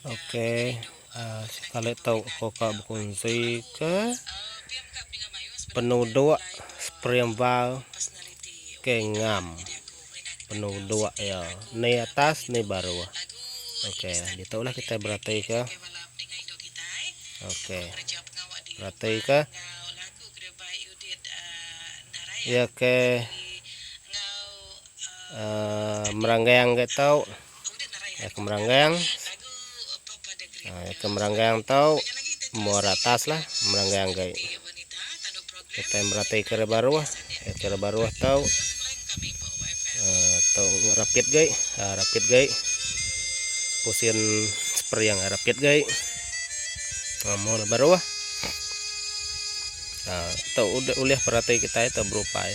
Ok sekali tu aku ka bekunsi ke penuduk spring val ke ngam penuduk iya ni atas ni baruh ok ditu lah kita bereti ke ok bereti ke iya ke uhh meranggang ke tu. Iya ke meranggang. Ha, iya ke meranggang tau muara atas lah meranggang gai. Kita merati ke baruh, iya ke baruh tau ha, tau rapit gai, ha, rapit gai. Pusin spray yang rapit gai. Ha, mau baruh. Ha, tau ulih perati kita itu berupai.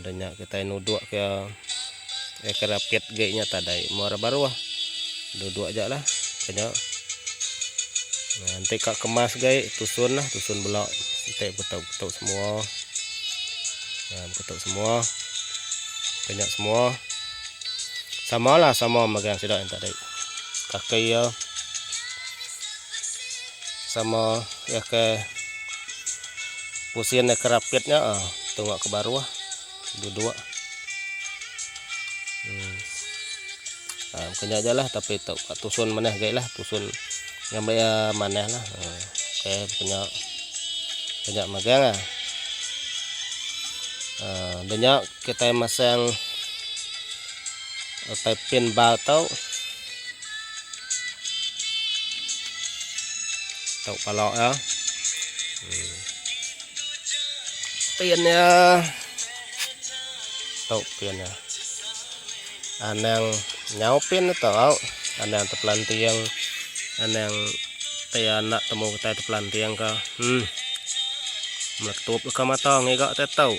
Ada nya kitai nuduk ke ekor apit gei nya tadai muar baruh. Duduk aja lah ke nya. Nah, enti ka kemas gei tusun lah, tusun bela. Enti beketuk-ketuk semua. Nah, beketuk semua. Ke nya semua. Sama lah sama megang sida yang tadi. Kaki ya. Sama iya ke pusin iya ke rapit nya ah tunga ke baruh duduk. Um ah mungkin nya ajalah tapi tu ka tusun manah agi lah tusun ngambi iya manah lah. Um okey mungkin nya mungkin nya magang ah. Um da nya kitai masang paipin ba tu. Tau pala iya. Pin iya. Tau pin iya. Anang nyau pin tu tau. Anang tepelanting. Anang tai anak temu tai tepelanting ka. Hmm. Meletup ka mata ngiga tai tau.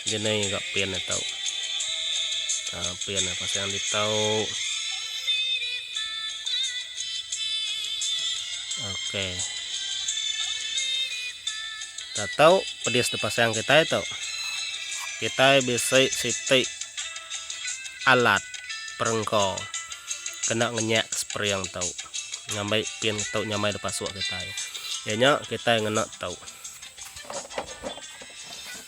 Dia nai ga pen dia tau. Ha pen dia pasang dia tau. Okey. Ta tau pedis dia pasang kitai tau. Kitai bisi siti alat perengka kena ngenyak spring tau. Ngambai pen tau nyamai da pasuk kitai. Iya nya kitai ngena tau.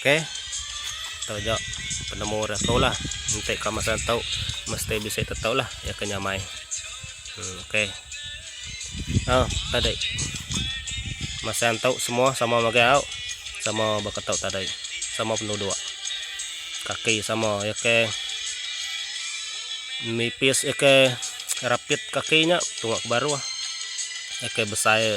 Okey. Tau ja penemu dah tau lah. Enti ka masa tau mesti bisi tetau lah ya ke nyamai. Hmm, okey. Oh, tadi. Masa tau semua sama bagi au. Sama baka tau tadi. Sama penduduk. Kaki sama ya ke nipis ya ke rapit kaki nya tunga ke baruh. Ya ke besai